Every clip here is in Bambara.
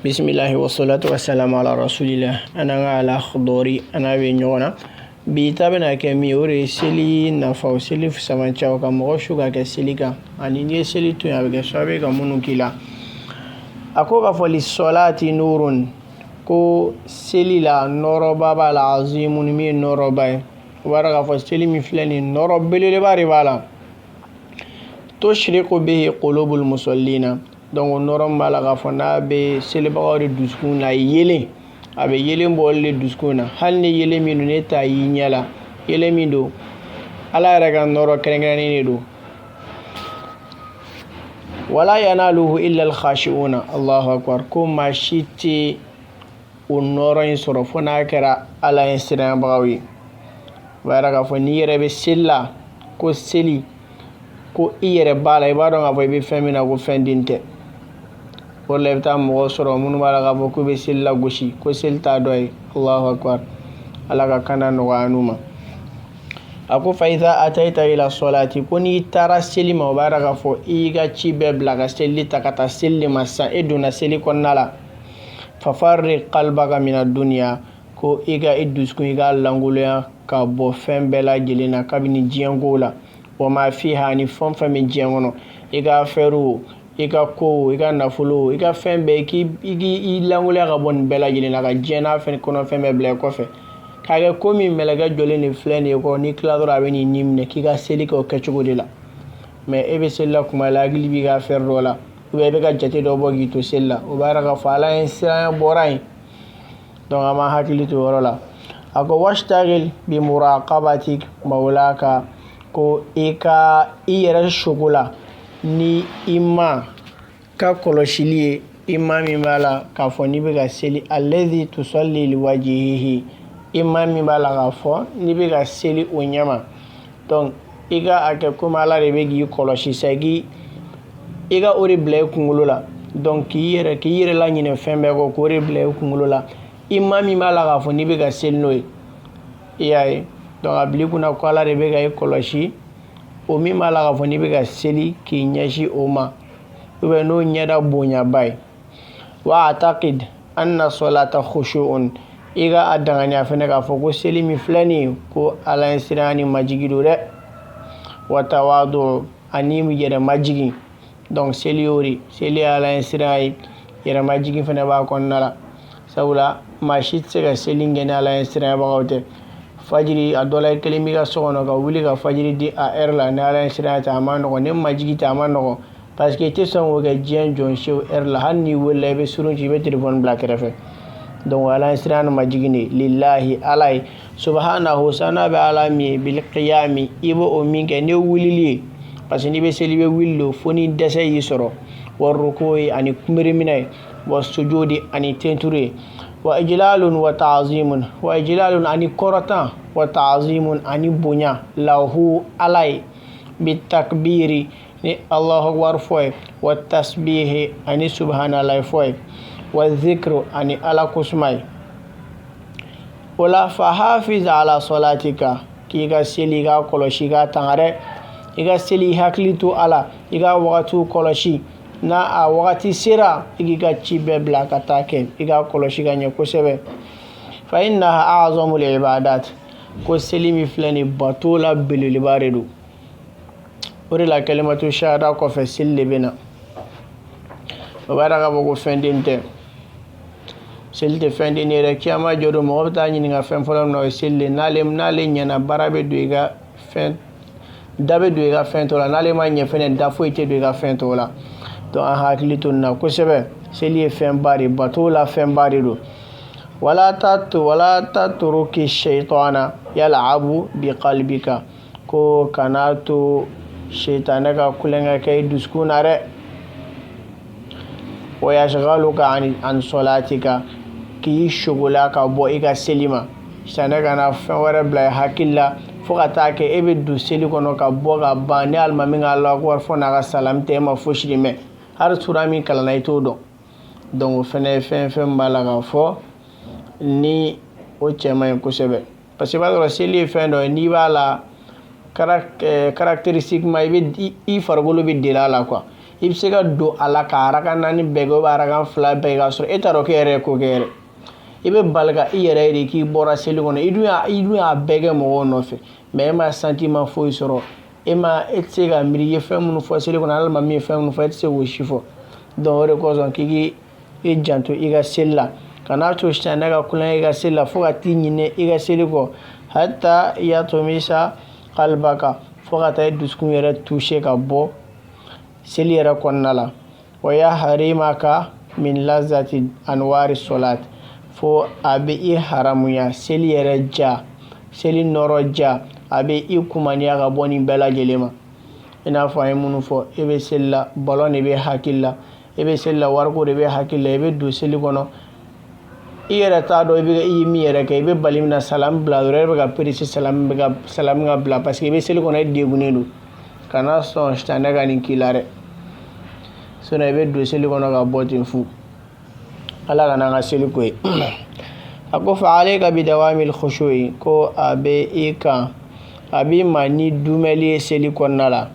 bisimilahi wasalatu wasalam ala rasulila an an ka alakhdari an n'a bɛ ɲɔgɔn na bi ta bɛna kɛ min o de ye seli nafaw seli samancɛw ka mɔgɔ su ka kɛ seli kan ani n'i ye seli to yen a bɛ kɛ sababu ye ka minnu k'i la a ko k'a fɔ lisɔlaati nuurun ko seli la nɔɔrɔba b'a la azimun min ye nɔɔrɔba ye o b'a yira k'a fɔ seli min filɛ nin ye nɔɔrɔ belebeleba de b'a la tusiriku bihi kulubul musɔlina donc o nɔɔrɔ min b'a la k'a fɔ n'a bɛ selibagaw de dusukun layeelen a bɛ yeelen bɔ olu de dusukun na hali ni yeelen min don n'i t'a y'i ɲɛ la yeelen min don ala yɛrɛ ka nɔɔrɔ kɛrɛnkɛrɛnnen de don wala yanaluhu illa alkhashi'una allahu akbar ko maa si tɛ o nɔɔrɔ in sɔrɔ fo n'a kɛra ala ɲɛsiranbagaw ye o b'a yira k'a fɔ n'i yɛrɛ bɛ seli la ko seli ko i yɛrɛ b'a la i b'a dɔn k'a fɔ i bɛ fɛn min na ko fɛn den tɛ o la i bɛ taa mɔgɔ sɔrɔ minnu b'a la k'a fɔ k'u bɛ seli lagosi ko seli t'a dɔ ye alahu akbar ala ka kanda nɔgɔya an n'u ma a ko fa iza atayita ila sɔlati ko n'i taara seli ma o b'a yira k'a fɔ i y'i ka ci bɛɛ bila ka seli ta ka taa seli de ma sisan e donna seli kɔnɔna la fafarrig kalbaka mina duniya ko i ka i dusukun i k'a lankolonya ka bɔ fɛn bɛɛ lajɛlen na kabini diɲɛkow la wa ma fiha ni fɛn fɛn bɛ diɲɛ kɔnɔ i ka fɛɛrɛw i ka kow i ka nafolo i ka fɛn bɛɛ k'i k'i lankolonya ka bɔ nin bɛɛ lajɛlen na ka diɲɛ n'a fɛn kɔnɔ fɛn bɛɛ bila i kɔfɛ k'a kɛ komi mɛlɛkɛ jɔlen de filɛ nin ye i kɔrɔ n'i tila dɔrɔn a bɛn'i ni minɛ k'i ka seli kɛ o kɛcogo de la mɛ e bɛ seli la kuma la hakili b'i ka fɛɛrɛ dɔ la ubiyɛn i bɛ ka jate dɔ bɔ k'i to seli la o b'a yira k'a fɔ ala ɲɛsiranya bɔra yen donc an b'an hakili to o yɔrɔ la a ko wasitagil bi muraqabati maulaka ko i ka i yɛrɛ sogola ni i ma ka kɔlɔsili ye i ma min b'a la k'a fɔ n'i bɛ ka seli alezi tusalli liwajihihi i ma min b'a la k'a fɔ n'i bɛ ka seli o ɲɛma dɔnku i ka a kɛ komi ala de bɛ k'i kɔlɔsi sɛki i ka o de bila i kunkolo la dɔnku k'i yɛrɛ laɲinɛ fɛn bɛɛ kɔ k'o de bila i kunkolo la i ma min b'a la k'a fɔ n'i bɛ ka seli n'o ye ala ye dɔnku a bil'i kun na ko ala de bɛ ka i kɔlɔsi o min b'a la k'a fɔ n'i bɛ ka seli k'i ɲɛsin o ma o bɛ n'o ɲɛda bonyaba ye wa atakid anna sɔlata khushu'un i ka a dankɛnɛya fana k'a fɔ ko seli min filɛ nin ye ko ala ɲɛsiranya ni majigi don dɛ wa tawadu ani yɛrɛ majigin donc seli y'o de seli ye ala ɲɛsiranya ye yɛrɛ majigin fana b'a kɔnɔna la sabula maa si tɛ se ka seli kɛ ni ala ɲɛsiranyabagaw tɛ fajiri a dɔ la i kelen b'i ka so kɔnɔ ka wuli ka fajiri di a ɛri la ni ala ɲɛsiranya tɛ a man nɔgɔn ni majigi tɛ a man nɔgɔn parce que i tɛ sɔn k'o kɛ diɲɛ jɔn si yɛrɛ la hali n'i welela i bɛ surun ci i bɛ telefɔni bila kɛrɛfɛ donc ala ɲɛsiran majigin de lilahi ala ye subahanahu saniya bɛ ala min ye bilqiyami i bɛ o min kɛ ni wulili ye parce que n'i bɛ seli i bɛ wuli de fo ni dɛsɛ y'i sɔrɔ wa rukuyi ani kunbiriminɛ ye wa sujudi ani tenturu ye wa ijlalun wa taazimun wa ijlalun ani kɔrɔta wa taazimun ani bonya lahu ala ye bitakbiri ni Allahu akbar fɔ ye wa tasbihi ani subahanallahi fɔ ye wa zikru ani Ala ko suma ye o la fahafiz ala sɔlatika k'i ka seli k'a kɔlɔsi k'a tanga dɛ i ka seli i hakili to a la i ka wagatiw kɔlɔsi n'a a wagati sera i k'i ka ci bɛɛ bila ka t'a kɛ i k'a kɔlɔsi ka ɲɛ kosɛbɛ fa innaha a'zamul ibadat ko seli min filɛ nin bato la belebeleba de don o de la kalimatu shahada kɔfɛ seli de bɛ na o b'a dɔn k'a fɔ ko fɛn den tɛ seli tɛ fɛn den ye dɛ kiyama jɔ don mɔgɔ bɛ taa ɲininka fɛn fɔlɔ min na o ye seli de n'ale n'ale ɲɛna baara bɛ don i ka fɛn da bɛ don i ka fɛn tɔ la n'ale ma ɲɛ fɛnɛ da foyi tɛ don i ka fɛn tɔ la donc an hakili to nin na kosɛbɛ seli ye fɛnba de bato la fɛnba de don wala ta to wala tatruki shaytana yal'abu bi kalibika ko kana to setanɛ ka tulonkɛ kɛ i dusukun na dɛ wa yashghaluka an sɔlatika k'i sugula ka bɔ i ka seli ma setanɛ kana fɛn wɛrɛ bila i hakili la fo ka taa kɛ e bɛ don seli kɔnɔ ka bɔ ka ban ni alimami ka Allahu akbar fɔ n'a ka salamu tɛ e ma fosi mɛn hali sura min kalanna i t'o dɔn donc fɛn ye fɛn fɛn b'a la k'a fɔ ni o cɛ man ɲi kosɛbɛ parce que b'a sɔrɔ seli ye fɛn dɔ ye n'i b'a la caractéristiquement i bɛ i farikolo bɛ deli a la quoi i bɛ se ka don a la ka araka naani bɛɛ kɛ araka fila bɛɛ k'a sɔrɔ e t'a dɔn k'e yɛrɛ ye ko kɛ yɛrɛ i bɛ bali ka i yɛrɛ de k'i bɔra seli kɔnɔ i dun y'a i dun y'a bɛɛ kɛ mɔgɔw nɔfɛ mais e ma sentiment foyi sɔrɔ e ma e tɛ se ka miiri i ye fɛn minnu fɔ seli kɔnɔ alimami ye fɛn minnu fɔ e tɛ se k'o si fɔ donc o de kosɔn k'i k'i i janto i ka seli la kana to sitanɛ ka tulonkɛ i ka seli la fo ka t'i ɲinɛ i ka seli kɔ hatta yatmisa kalibaka fo ka taa i dusukun yɛrɛ tuuse ka bɔ seli yɛrɛ kɔnɔna la wa yahrimaka min lazati anwari sɔlat fo a bɛ i haramuya seli yɛrɛ ja seli nɔrɔ ja a bɛ i kumaniya ka bɔ nin bɛɛ lajɛlen ma i n'a fɔ an ye minnu fɔ e bɛ seli la balon de bɛ hakili la i bɛ seli la wariko de bɛ hakili la i bɛ don seli kɔnɔ i yɛrɛ t'a dɔn i bɛ i ye min yɛrɛ kɛ i bɛ bali min na salamu bila dɔrɔn e bɛ ka perese salamu bɛ ka salamu ka bila parce que i bɛ seli kɔnɔ e degunnen don kana sɔn sitanɛ ka nin k'i la dɛ sinon i bɛ don seli kɔnɔ ka bɔ ten fu ala kana an ka seli ko ye a ko fa alayka bidawamil khushu'i ko a bɛ i kan a b'i ma ni dumɛli ye seli kɔnɔna la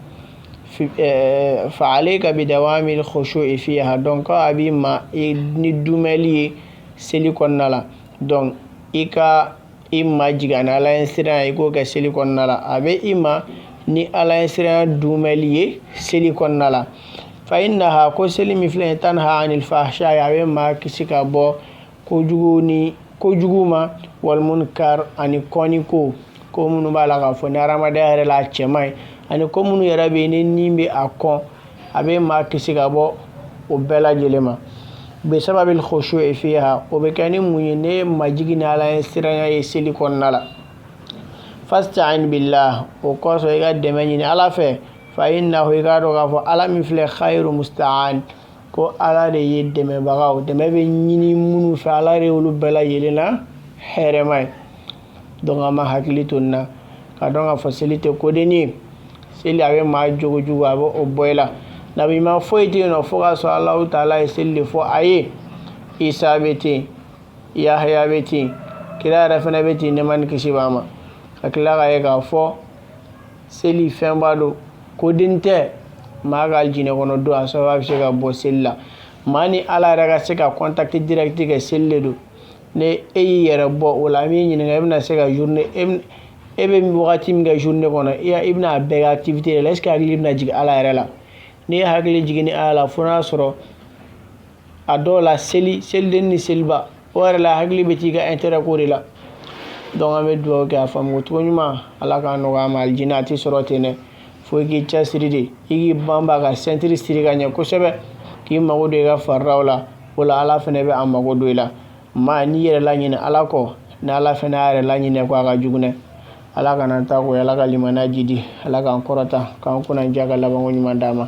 fa alayka bidawamil khushu'i fiha donc ko a b'i ma ni dumɛli ye seli kɔnɔna la donc i ka i majigin ni ala ɲɛsiran i k'o kɛ seli kɔnɔna la a bɛ i ma ni ala ɲɛsiran dumɛli ye seli kɔnɔna la fa innaha ko seli min filɛ tanha anil fahsha a bɛ maa kisi ka bɔ kojugu ni kojugu ma wal munkar ani kɔni ko ko minnu b'a la k'a fɔ ni hadamadenya yɛrɛ la a cɛ man ɲi ani ko minnu yɛrɛ bɛ yen ni ni bɛ a kɔn a bɛ maa kisi ka bɔ o bɛɛ lajɛlen ma bisababil khushu'i fiha o bɛ kɛ ni mun ye ni majigin ni ala ɲɛsiranya ye seli kɔnɔna la fasta'in billah o kɔsɔn i ka dɛmɛ ɲini ala fɛ fa innahu i k'a dɔn k'a fɔ ala min filɛ khayru musta'an ko ala de ye dɛmɛbagaw dɛmɛ bɛ ɲini minnu fɛ ala de y'olu bɛɛ lajɛlen na hɛrɛma ye donc an b'an hakili to nin na k'a dɔn k'a fɔ seli tɛ kodennin ye seli a bɛ maa jogojugu a bɛ o bɔ i la nabiɲuman foyi tɛ yen nɔ fo k'a sɔrɔ alahu taala ye seli de fɔ a ye isa bɛ ten yahaya bɛ ten kira yɛrɛ fana bɛ ten nɛɛma ni kisi b'a ma ka tila k'a ye k'a fɔ seli fɛnba don kodennin tɛ maa ka alijinɛ kɔnɔ don a sababu a bɛ se ka bɔ seli la maa ni ala yɛrɛ ka se ka contact direct kɛ seli de don ni e y'i yɛrɛ bɔ o la an b'i ɲininka e bɛna se ka journée e bɛ wagati min kɛ journée kɔnɔ i bɛna a bɛɛ kɛ activité de la est-ce que hakili bɛna jigin ala yɛrɛ la n'i ye hakili jigin ni ala la fo n'a sɔrɔ a dɔw la seli seliden ni seliba o yɛrɛ la hakili bɛ t'i ka intérêt ko de la donc an bɛ dugawu kɛ a faamu cogo ɲuman ala k'a nɔgɔya an ma alijinɛ a tɛ sɔrɔ ten dɛ fo i k'i cɛsiri de i k'i banba ka sentiri siri ka ɲɛ kosɛbɛ k'i mago don i ka faridaw la o la ala fana bɛ a mago don i la maa n'i yɛrɛ laɲinɛ ala kɔ ni ala fana y'a yɛrɛ laɲinɛ i kɔ a ka jugu dɛ ala kana taa ko ala ka limaniya jidi ala k'an kɔrɔta k'an kunnandiya ka labanko ɲuman d'an ma